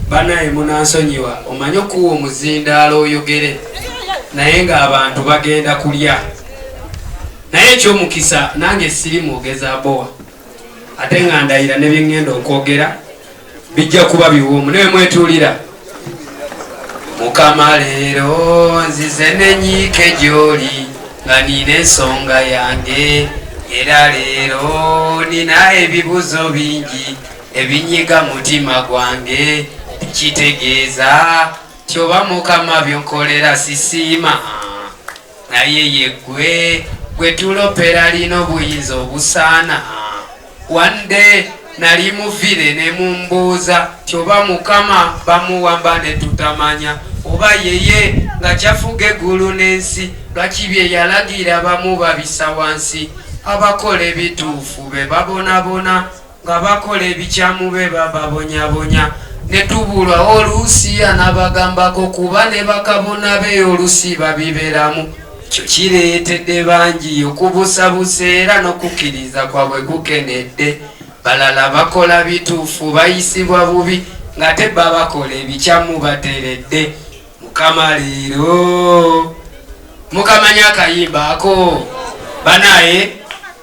banaye munansonyiwa omanyi okuwa omuzindaalo oyogere naye nga abantu bagenda kulya naye ekyomukisa nange siri mwogeza bowa ate nga ndayira nebyeŋŋenda okwogera bijja kuba biwoomu naye mwetuulira mukama leero nzize nenyiike gyoli nga nina ensonga yange era leero nina ebibuzo bingi ebinyiga mutima gwange kitegeeza tyoba mukama byonkolera sisiima naye yeggwe gwe tulopera lina obuyinza obusaana wande nali muvire ne mumbuuza tyoba mukama bamuwamba ne tutamanya oba yeye nga kyafuga eggulu n'ensi lwaki bye yalagira bamu babisa wansi abakola ebituufu be babonabona nga bakola ebikyamu be bababonyabonya ne tubulwa oluusi anabagambako kuba ne bakabona be oluusi babiberamu ekyo kireetedde bangi okubusabusa era n'okukkiriza kwabwe kukenedde balala bakola bituufu bayisibwa bubi ngate babakola ebikyamu bateredde mukama leero mukamanya akayimba ako banaye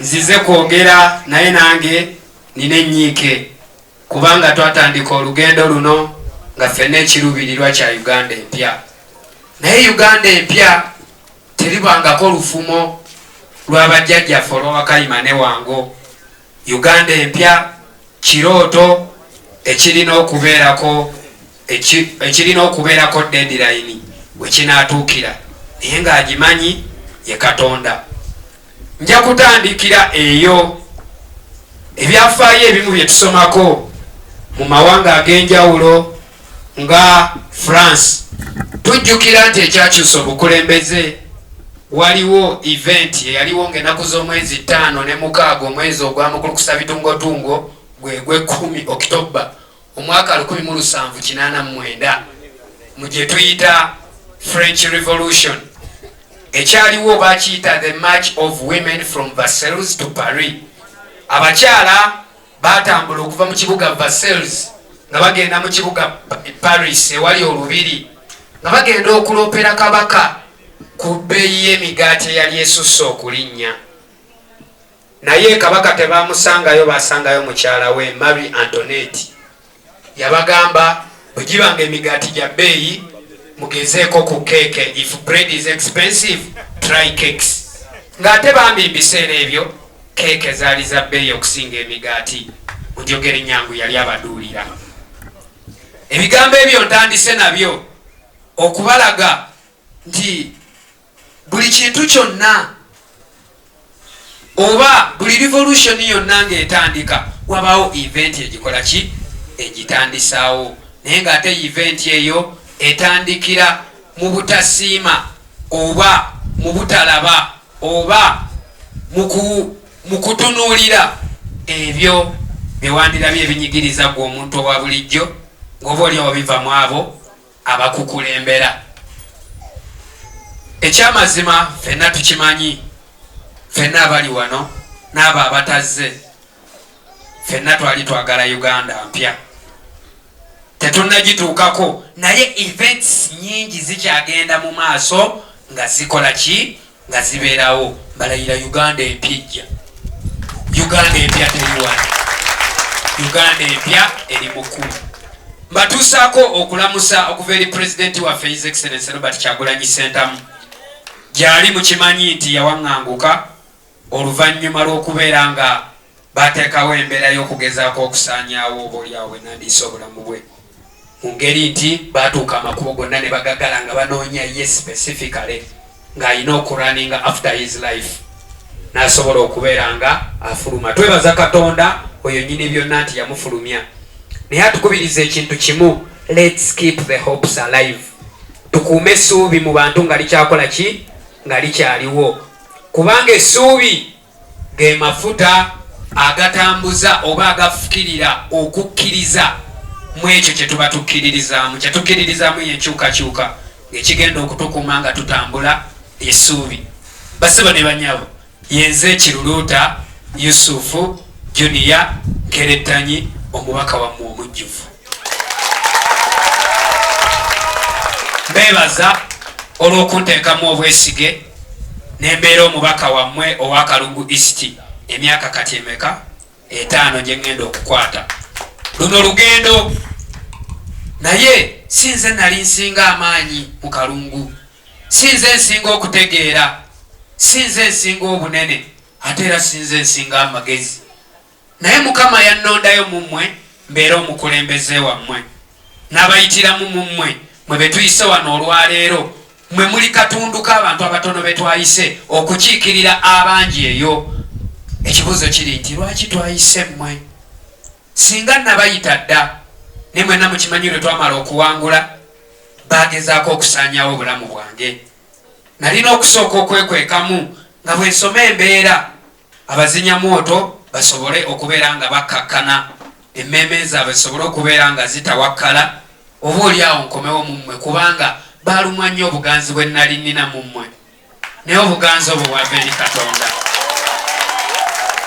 nzize kwogera naye nange nina enyiike kubanga twatandika olugendo luno nga ffena ekirubirirwa kya uganda empya naye uganda empya teribangako lufumo lwabajjajjaffe olwabakayima newango Uganda empya kirooto ekirina okubeerako ekirina okubeerako dedirayini we kinaatuukira naye ng'agimanyi ye Katonda. Nja kutandikira eyo ebyafaayo ebimu bye tusomako mu mawanga ag'enjawulo nga france tujjukira nti ekyakyusa obukulembeze waliwo eventi eyaliwo ngaenaku z'omwezi ttaano ne mukaaga omwezi ogwamukulukusa bitungotungo gwegwekumi okitoba omwaka 1789 mu gye tuyita french revolution ekyaliwo bakiyita the march of women from vercels to paris abakyala Baatambula okuva mu kibuga Versailles nga bagenda mu kibuga Paris ewali olubiri nga bagenda okuloopera kabaka ku bbeeyi y'emigaati eyali esusse okulinnya. Naye kabaka tebaamusangayo, baasangayo mukyala we Marie Antoinette. yabagamba bwegiba nga emigaati gya bbeeyi mugezeeko ku keeke if bread is expensive try cakes ng'ate bambi mbiseera ebyo keeke zaali za bbeeyi okusinga emigaati mujogere nyangu yali abaduulira ebigambo ebyo ntandise nabyo okubalaga nti buli kintu kyonna oba buli revolution yonna ng'etandika wabaawo event egikola ki egitandisaawo naye ng'ate event eyo etandikira mu butasiima oba mu butalaba oba mu kutunuulira ebyo bye wandirabye ebinyigiriza gwe omuntu owa bulijjo ng'oba olyawo biva mu abo abakukulembera. Ekyamazima fenna tukimanyi, fenna abali wano n'abo abatazze, fenna twali twagala Uganda mpya tetunnagituukako, naye events nyingi zikyagenda mu maaso nga zikola ki nga ziberawo mbalayira uganda empya ejja uganda empya teliwala uganda empya eri mukulu mbatuusaako okulamusa okuva eri pulezidenti waffe his excellence robert kyagulanyi sentamu gyali mukimanyi nti yawaŋŋanguka oluvannyuma lw'okubeera nga Baateekawo embeera y'okugezaako okusaanyaawo oboolyawo bwe nandiyise obulamu bwe mu ngeri nti baatuuka amakubo gonna ne bagagala nga banoonya ye specifically ng'alina okuraninga after his life n'asobola okubeera nga afuluma. Twebaza Katonda oyo nyini byonna nti yamufulumya, naye atukubiriza ekintu kimu, let's keep the hopes alive, tukuume essuubi mu bantu nga likyakola ki nga likyaliwo kubanga essuubi ge mafuta agatambuza oba agafukirira okukkiriza mu ekyo kye tuba tukkiririzaamu kye tukkiririzaamu yenkyukakyuka ng'ekigenda okutukuma nga tutambula esuubi basibo ne banyabo yenze ekiruluuta yusufu juniya nkerettanyi omubaka wammwe omujjuvu beebaza olw'okunteekamu obwesige ne mbeera omubaka wammwe owa Kalungu East emyaka kati emeka etaano gye ŋŋenda okukwata luno lugendo naye si nze nali nsinga amaanyi mu Kalungu si nze nsinga okutegeera si nze nsinga obunene ate era si nze nsinga amagezi Naye Mukama yannondayo mu mmwe mbeere omukulembeze wammwe, n'abayitiramu mu mmwe, mmwe be tuyise wano olwa leero. Mmwe muli katundu k'abantu abatono be twayise okukiikirira abangi eyo. Ekibuuzo kiri nti, Lwaki twayise mmwe? Singa nnabayita dda, naye mwenna mukimanyi lwe twamala okuwangula, baagezaako okusaanyaawo obulamu bwange. Nnalina okusooka okwekwekamu nga bwe nsoma embeera. Abazinya mwoto basobole okubeera nga bakkakkana, emmeeme zaabwe zisobole okubeera nga zitawakkala, oba oli awo nkomewo mu mmwe, kubanga baalumwa nnyo obuganzi bwe nnali nnina mu mmwe, naye obuganzi obwo bwava eri Katonda.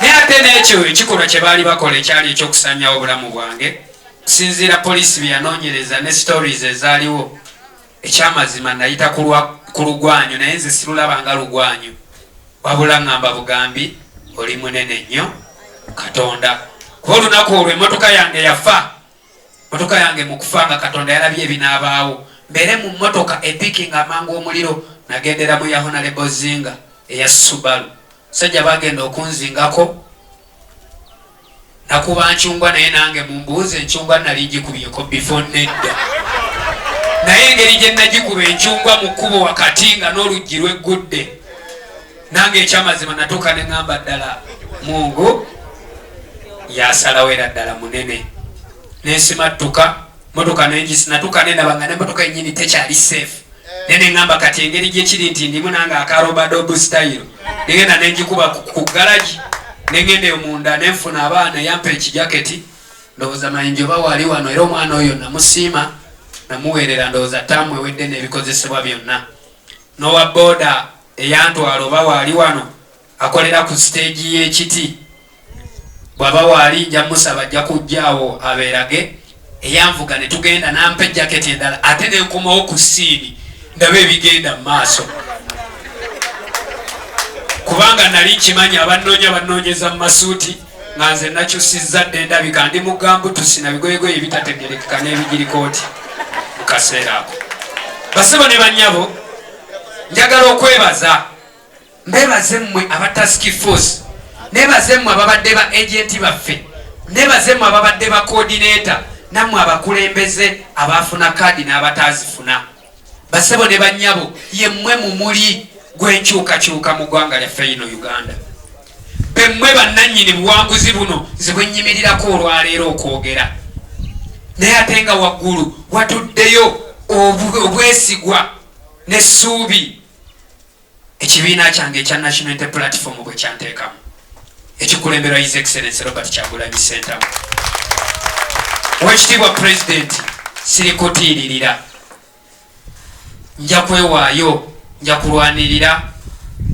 Naye ate n'ekyo ekikolwa kye baali bakola ekyali eky'okusaanyawo obulamu bwange, okusinziira poliisi bye yanoonyereza ne stories ezaaliwo, Ekyamazima nayita ku lugwanyu naye nze silulaba nga lugwanyu wabula ngamba bugambi oli munene nnyo katonda kuba olunaku olwo emotoka yange yafa motoka yange mukufa nga katonda yalabye ebinaabaawo mbere mu motoka epiki nga amangu omuliro nagendera mu yahonalebozinga eya subalu sajja bagenda okunzingako nakuba ncungwa naye nange mumbuuze encungwa nali njikubyeko bifo nedda naye engeri gye nagikuba encungwa mu kkubo wakati nga n'oluggi lweggudde nange ekyamazima natuuka ne ŋamba ddala mungu yasalawo era ddala munene nesimattuka motoka nenatuka nenaba nga nemotoka yenyini tekyali safe naye neŋamba kati engeri gyekiri nti ndimu nange akarobadobu style negenda nengikuba ku galagi nengenda eyo munda nenfuna abaana eyampa ekijaketi ndowooza mayinja oba wali wano era omwana oyo namusiima namuweerera ndowooza taamu ewedde n'ebikozesebwa byonna n'owa booda eyantwala oba wali wano akolera ku siteegi y'ekiti bwaba waali nja musaba ajja kujjaawo abeerage eyanvuga ne tugenda nampa ejaketi endala ate ne nkomawo ku siini ndaba ebigenda mu maaso kubanga nali nkimanyi abannoonya bannoonyeza mu masuuti nga nze nakyusizza dde ndabika ndi mugambu tusina bigoyegoye ebitategerekeka n'ebigirikooti mu kaseera ako basebo ne bannyabo njagala okwebaza Nebaze mmwe aba task force, nebaze mmwe ababadde ba agenti baffe, nebaze mmwe ababadde ba coordinator, nammwe abakulembeze abaafuna kaadi n'abataazifuna. Basebo ne bannyabo, ye mmwe mu muli gw'enkyukakyuka mu ggwanga lyaffe yino Uganda. Be mmwe bannannyini buwanguzi buno nze bwe nnyimirirako olwaleero okwogera. Naye ate nga waggulu watuddeyo obwesigwa n'essuubi. Ekibiina kyange ekya National Unity Platform bwe kyanteekamu ekikulemberwa His Excellency Robert Kyagulanyi Ssentamu Oweekitiibwa Pulezidenti sirikutiiririra nja kwewaayo nja kulwanirira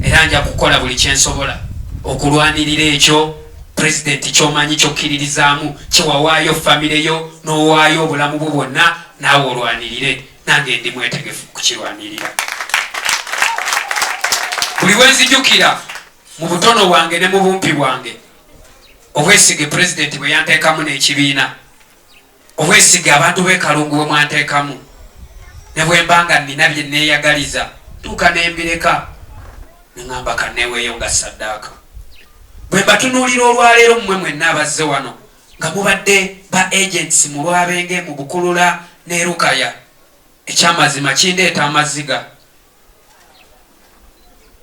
era nja kukola buli kyensobola okulwanirira ekyo pulezidenti kyomanyi kyokkiririzaamu kyewawaayo famireyo n'owaayo obulamu bwo bwonna naawe olwanirire nange ndi mwetegefu kukirwanirira buli wenzijukira mu butono bwange ne mu bumpi bwange obwesige pulezidenti bwe yanteekamu n'ekibiina obwesige abantu bekalungu bwe mwanteekamu ne bwemba nga nina bye neeyagaliza tuuka nembireka neŋamba kaneeweeyo nga saddaaka bwe mbatunuulira olwaleero mmwe mwenna abazze wano nga mubadde ba agents mu lwabenge mu bukulula ne lukaya ekyamazima kindeeta amaziga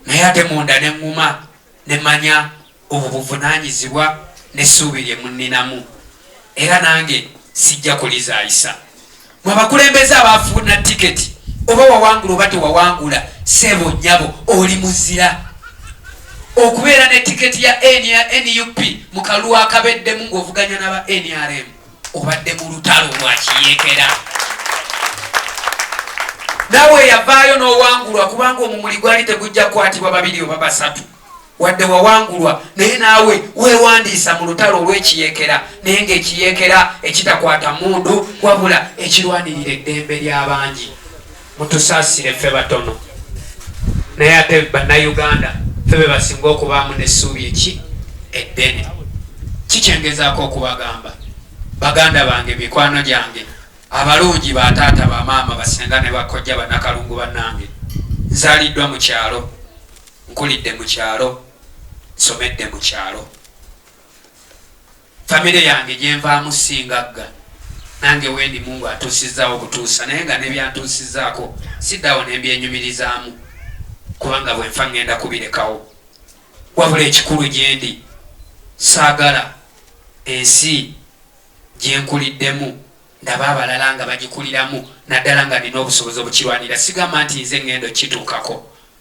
naye ate munda ne nguma ne manya obwo buvunanyizibwa ne suubi lye muninamu era nange sijja kulizayisa mwe abakulembeze abafuna tiketi oba wawangula oba tewawangula sebo nyabo oli muzira okubeera ne tiketi ya nup mu kalulu akabeddemu ng'ovuganya naba nrm obadde mu lutalo lwakiyekera nawe yavaayo n'owangulwa kubanga omumuli gwali tegujja kukwatibwa babiri oba basatu wadde wawangulwa naye naawe weewandiisa mu lutalo olw'ekiyeekera naye ng'ekiyeekera ekitakwata mundu wabula ekirwanirira eddembe ly'abangi mutusaasire ffe batono naye ate bannayuganda ffe be basinga okubaamu n'essuubi eki eddene kikyengezaako okubagamba baganda bange mikwano gyange abalungi bataata bamaama basinga ne bakojja banakalungu bannange nzaliddwa mu kyalo Nkulidde mu kyalo, nsomedde mu kyalo. Famire yange gye nvaamu si ngagga. Nange wendi Mungu atuusizzaawo butuusa naye nga ne by'antuusizzaako siddaawo ne mbyenyumirizaamu kubanga bwe nfa ŋŋenda kubirekawo. Wabula ekikulu gye ndi saagala ensi gye nkuliddemu ndabe abalala nga bagikuliramu naddala nga nnina obusobozi obukirwanirira. Sigamba nti nze ŋŋenda okukituukako.